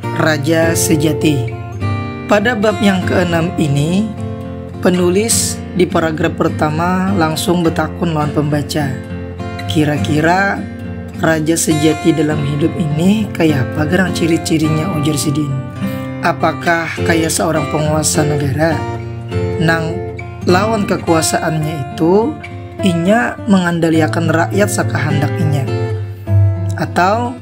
Raja Sejati. Pada bab yang keenam ini, penulis di paragraf pertama langsung betakun lawan pembaca. Kira-kira raja sejati dalam hidup ini kaya apa gerang ciri-cirinya ujar sidin. Apakah kaya seorang penguasa negara nang lawan kekuasaannya itu inya mengandaliakan rakyat sakahandak inya. Atau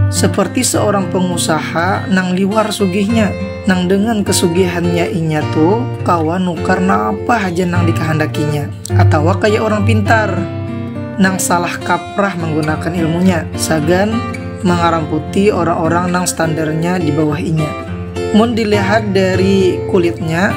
seperti seorang pengusaha nang liwar sugihnya, nang dengan kesugihannya inya tu kawa nukar napa haja nang dikahandakinya. Atau kaya orang pintar, nang salah kaprah menggunakan ilmunya sagan mengaramputi orang-orang nang standarnya di bawah inya. Mun dilihat dari kulitnya,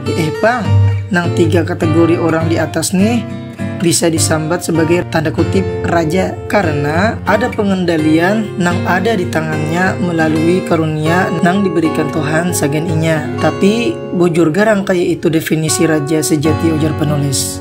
Eh pang, nang tiga kategori orang di atas nih bisa disambat sebagai tanda kutip raja karena ada pengendalian nang ada di tangannya melalui karunia nang diberikan Tuhan sagan inya. Tapi bujur garang kaya itu definisi raja sejati ujar penulis.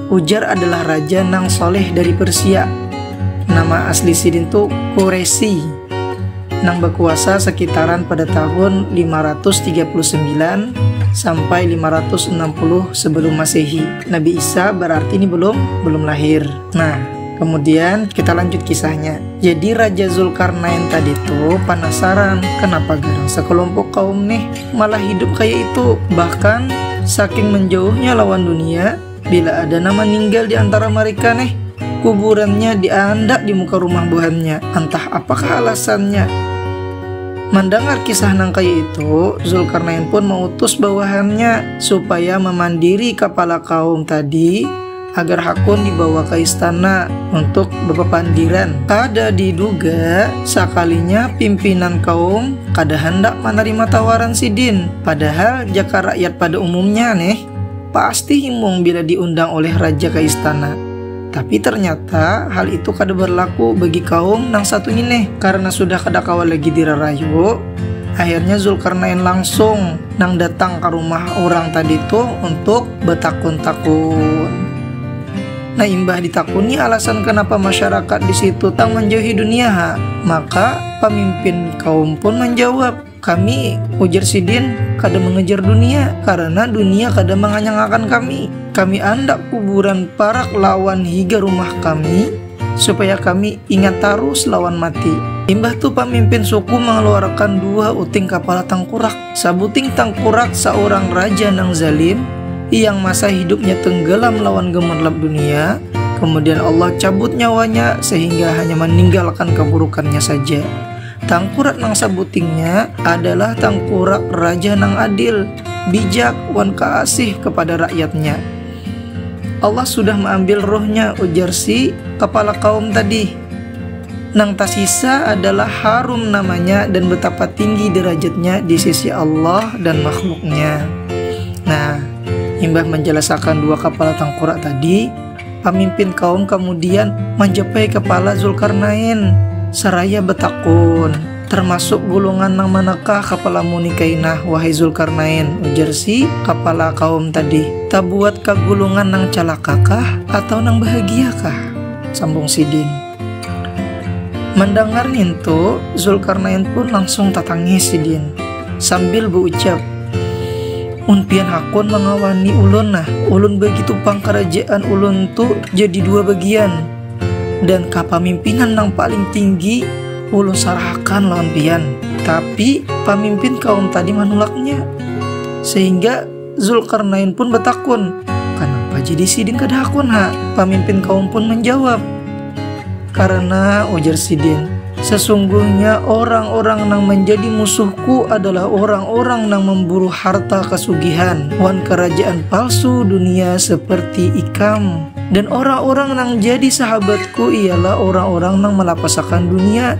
Ujar adalah raja nang soleh dari Persia. Nama asli sidin tu Koresi, nang bakuasa sakitaran pada tahun 539 sampai 560 sebelum Masehi. Nabi Isa berarti ini belum belum lahir. Nah, kemudian kita lanjut kisahnya. Jadi Raja Zulkarnain tadi tuh penasaran kenapa garang sekelompok kaum nih malah hidup kayak itu. Bahkan saking menjauhnya lawan dunia, Bila ada nang maninggal di antara mareka neh, kuburannya diandak di muka rumah buhannya, antah apakah alasannya. Mandangar kisah nang kaya itu, Zulkarnain pun mautus bawahannya supaya mamandiri kapala kaum tadi agar hakun dibawa ka istana untuk bapapandiran. Kada diduga, sakalinya pimpinan kaum kada handak manarima tawaran sidin, padahal jaka rakyat pada umumnya neh, pasti himung bila diundang oleh raja ke istana. Tapi ternyata hal itu kada berlaku bagi kaum nang satu ini karena sudah kada kawa lagi dirarayu. Akhirnya Zulkarnain langsung nang datang ke rumah orang tadi itu untuk betakun-takun. Nah imbah ditakuni alasan kenapa masyarakat di situ tak menjauhi dunia, maka pemimpin kaum pun menjawab Kami, ujar sidin, kada mangejar dunia, karana dunia kada manganyangakan kami. Kami andak kuburan parak lawan higa rumah kami, supaya kami ingat tarus lawan mati. Imbah tu pamimpin suku mangaluarakan dua uting kapala tangkurak. Sabuting tangkurak saurang raja nang zalim, yang masa hidupnya tenggelam lawan gemerlap dunia, kemudian Allah cabut nyawanya sehingga hanya maninggalkan kaburukannya saja. Tangkurak nang sabutingnya adalah tangkurak raja nang adil, bijak, wan kaasih kapada rakyatnya. Allah sudah maambil ruhnya, ujar si kapala kaum tadi. Nang tasisa adalah harum namanya dan betapa tinggi derajatnya di sisi Allah dan makhluknya. Nah, imbah manjalasakan dua kapala tangkurak tadi, Pamimpin kaum kamudian manjapai kapala Dzulkarnain saraya batakun, Tarmasuk gulungan nang manakah kapalamu ni kainah, wahai Dzulkarnain? ujar si kapala kaum tadi. Tabuat ka gulungan nang calakakah atau nang bahagiakah? sambung sidin. Mandangar nintu, Zulkarnain pun langsung tatangis sidin sambil baucap, Un pian hakun mangawani ulun nah, ulun bagitu pang karajaan ulun tu jadi dua bagian, dan kapamimpinan nang paling tinggi ulun sarahakan lawan pian, tapi pamimpin kaum tadi manulaknya, sehingga Zulkarnain pun betakun, Kenapa jadi sidin kada hakun ha? Pamimpin kaum pun menjawab, Karena ujar sidin, sesungguhnya orang-orang nang menjadi musuhku adalah orang-orang nang memburu harta kesugihan wan kerajaan palsu dunia seperti ikam. Dan orang-orang nang jadi sahabatku ialah orang-orang nang melapasakan dunia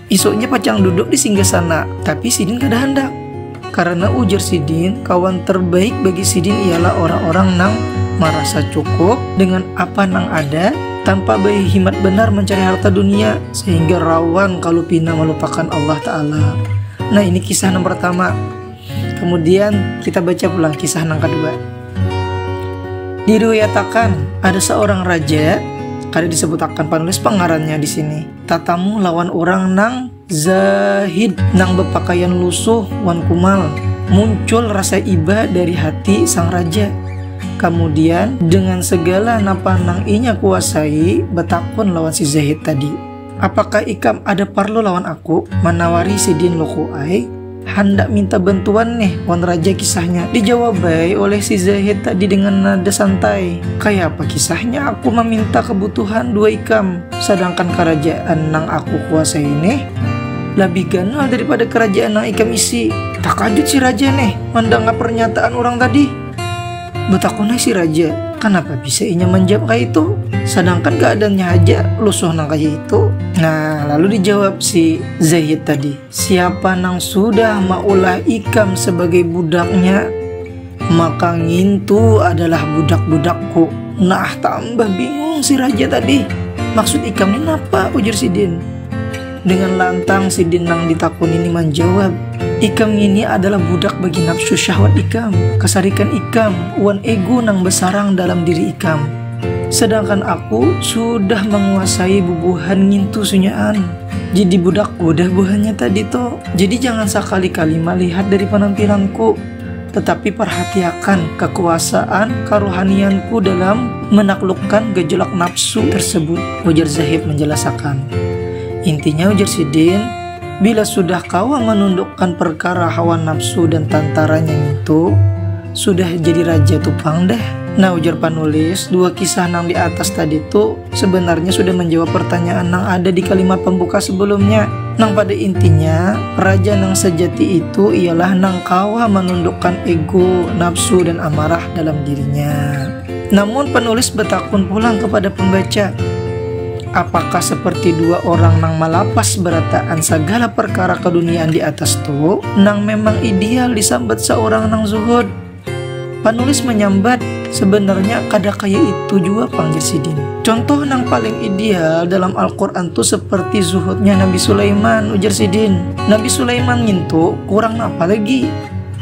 Isuknya pacang duduk di singgah sana, tapi sidin kada handak. Karena ujar sidin, kawan terbaik bagi sidin ialah orang-orang nang merasa cukup dengan apa nang ada tanpa berhimat benar mencari harta dunia sehingga rawan kalau pina melupakan Allah Ta'ala. Nah ini kisah yang pertama. Kemudian kita baca pulang kisah yang kedua. Diriwayatakan ada seorang raja, kada disebutakan penulis pengarannya di sini. Tatamu lawan urang nang zahid, nang bapakaian lusuh wan kumal. Muncul rasa iba dari hati sang raja. Kamudian, dengan segala napa nang inya kuasai, batakun lawan si zahid tadi, Apakah ikam ada parlu lawan aku? Manawari sidin Luku ai. Handak minta bantuan neh wan raja kisahnya. Dijawab ai oleh si Zahid tadi dengan nada santai, Kayapa kisahnya aku maminta kabutuhan dua ikam, sadangkan karajaan nang aku kuasai neh labih ganal daripada karajaan nang ikam isi? Takajut si raja neh mandangar parnyataan urang tadi. Batakun ai si raja, Kanapa bisa inya manjawab kayaitu, sadangkan kaadaannya haja lusuh nang kaya itu? Nah, lalu dijawab si Zahid tadi. Siapa nang sudah maulah ikam sebagai budaknya, maka ngintu adalah budak-budakku. Nah, tambah bingung si raja tadi. Maksud ikam ini apa? Ujar sidin. Dengan lantang sidin nang ditakun ini menjawab, ikam ini adalah budak bagi nafsu syahwat ikam, kesarikan ikam, wan ego nang besarang dalam diri ikam. Sedangkan aku sudah menguasai bubuhan ngintu sunyaan. Jadi budak udah buhannya tadi to. Jadi jangan sakali-kali melihat dari penampilanku, tetapi perhatiakan kekuasaan kerohanianku dalam menaklukkan gejolak nafsu tersebut, ujar Zahid menjelasakan. Intinya ujar Sidin, bila sudah kawa menundukkan perkara hawa nafsu dan tantaranya itu, sudah jadi raja tupang deh. Nah ujar panulis, dua kisah nang di atas tadi tu sebenarnya sudah menjawab pertanyaan nang ada di kalimat pembuka sebelumnya. Nang pada intinya, raja nang sejati itu ialah nang kawa menundukkan ego, nafsu, dan amarah dalam dirinya. Namun penulis bertakun pulang kepada pembaca, apakah seperti dua orang nang malapas berataan segala perkara keduniaan di atas tu nang memang ideal disambat seorang nang zuhud Panulis manyambat, Sebenarnya kada kaya itu jua pang jar sidin. Contoh nang paling ideal dalam Al-Quran tu seperti zuhudnya Nabi Sulaiman, ujar sidin. Nabi Sulaiman ngintu kurang napa lagi?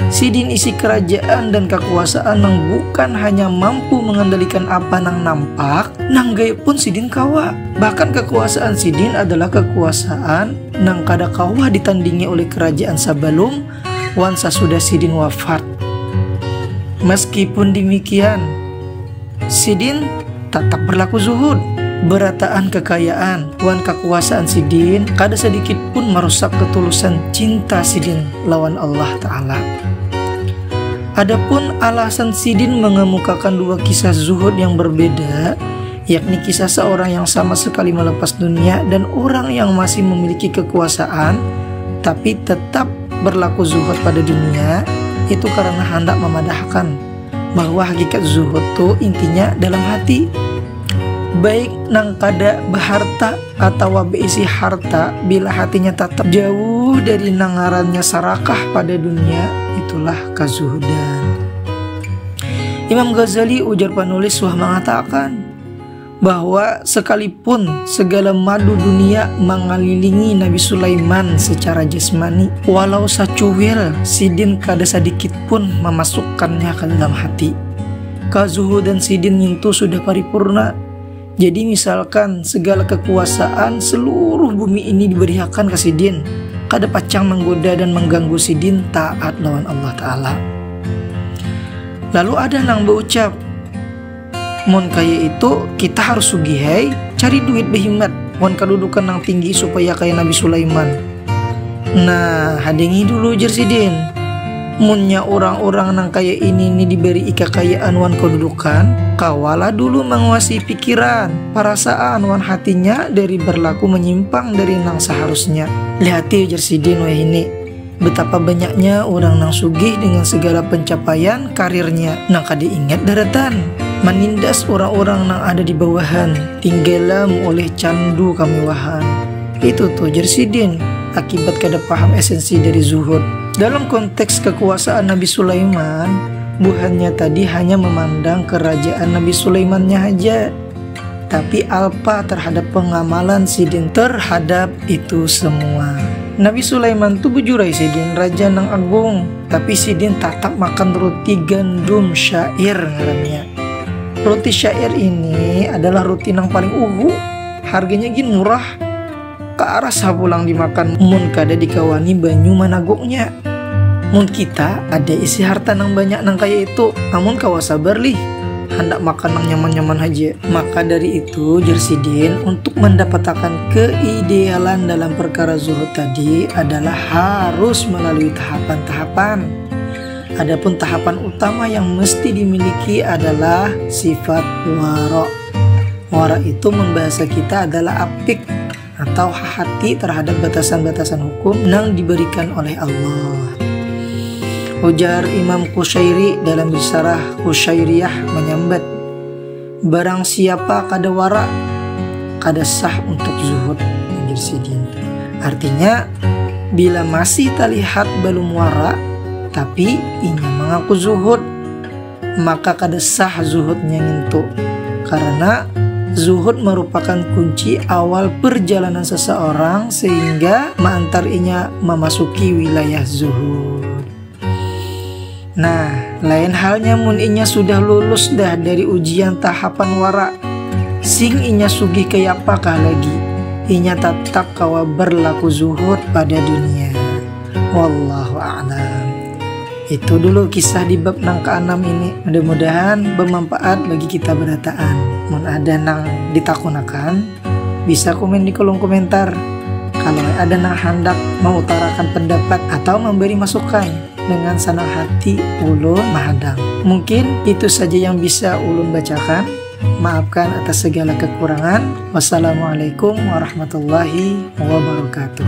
Sidin isi kerajaan dan kekuasaan nang bukan hanya mampu mengendalikan apa nang nampak, nang gaib pun sidin kawa. Bahkan kekuasaan sidin adalah kekuasaan nang kada kawa ditandingi oleh kerajaan sabalum wan sasudah sidin wafat. Meskipun demikian, sidin tatap berlaku zuhud. Berataan kekayaan wan kakuasaan sidin kada sadikit pun marusak ketulusan cinta sidin lawan Allah Ta'ala. Adapun alasan sidin mengemukakan dua kisah zuhud yang berbeda, yakni kisah seorang yang sama sekali melepas dunia dan orang yang masih memiliki kekuasaan tapi tetap berlaku zuhud pada dunia itu karena hendak memadahkan bahwa hakikat zuhud itu intinya dalam hati baik nang kada beharta atau beisi harta bila hatinya tetap jauh dari nangarannya sarakah pada dunia itulah kazuhudan Imam Ghazali ujar penulis suah mengatakan bahwa sekalipun segala madu dunia mengelilingi Nabi Sulaiman secara jasmani, walau sacuil sidin kada sedikit pun memasukkannya ke dalam hati. Kezuhudan sidin ngintu sudah paripurna, Jadi misalkan segala kekuasaan seluruh bumi ini diberiakan ke sidin, kada pacang menggoda dan mengganggu sidin taat lawan Allah Ta'ala. Lalu ada nang berucap, Mon kaya itu kita harus sugihai, cari duit behimat, wan kedudukan nang tinggi supaya kaya Nabi Sulaiman. Nah, hadengi dulu jer sidin. Munnya urang-urang nang kaya ini ni diberi ikakayaan wan kedudukan, kawalah dulu manguasai pikiran, parasaan wan hatinya dari berlaku menyimpang dari nang seharusnya. Lihati jer sidin wahini, betapa banyaknya orang nang sugih dengan segala pencapaian karirnya nang kada ingat daratan manindas orang-orang nang ada di bawahan tinggalam oleh candu kamewahan. Itu tuh jer sidin, akibat kada paham esensi dari zuhud. Dalam konteks kekuasaan Nabi Sulaiman, buhannya tadi hanya memandang kerajaan Nabi Sulaimannya haja, tapi alpa terhadap pengamalan sidin terhadap itu semua. Nabi Sulaiman tuh bujurai sidin raja nang agung, tapi sidin tatap makan roti gandum syair ngarannya. Roti syair ini adalah roti nang paling uhu Harganya gin murah. Karasa pulang dimakan mun kada dikawani banyu managuknya. Mun kita ada isi harta nang banyak nang kaya itu, amun kawa sabar lih, handak makan nang nyaman-nyaman haja. Maka dari itu, jar sidin, untuk mandapatakan keidealan dalam perkara zuhud tadi adalah harus melalui tahapan-tahapan. Adapun tahapan utama yang mesti dimiliki adalah sifat wara. Muara itu mun bahasa kita adalah apik atau hati terhadap batasan-batasan hukum yang diberikan oleh Allah. Ujar Imam Kusyairi dalam risalah Kusyairiyah menyambat Barang siapa kada wara kada sah untuk zuhud anjir sidin. Artinya bila masih terlihat belum wara tapi inya mengaku zuhud maka kada sah zuhudnya ngintu. Karena zuhud merupakan kunci awal perjalanan seseorang sehingga meantar inya memasuki wilayah zuhud. Nah, lain halnya mun inya sudah lulus dah dari ujian tahapan wara. Sing inya sugih kaya apakah lagi? Inya tetap kawa berlaku zuhud pada dunia. Wallahu a'lam. Itu dulu kisah di bab nang keenam ini. Mudah-mudahan bermanfaat bagi kita berataan. Mun ada nang ditakunakan, bisa komen di kolom komentar. Kalau ada nang hendak mengutarakan pendapat atau memberi masukan, dengan senang hati ulun mahadang. Mungkin itu saja yang bisa ulun bacakan. Maafkan atas segala kekurangan. Wassalamualaikum warahmatullahi wabarakatuh.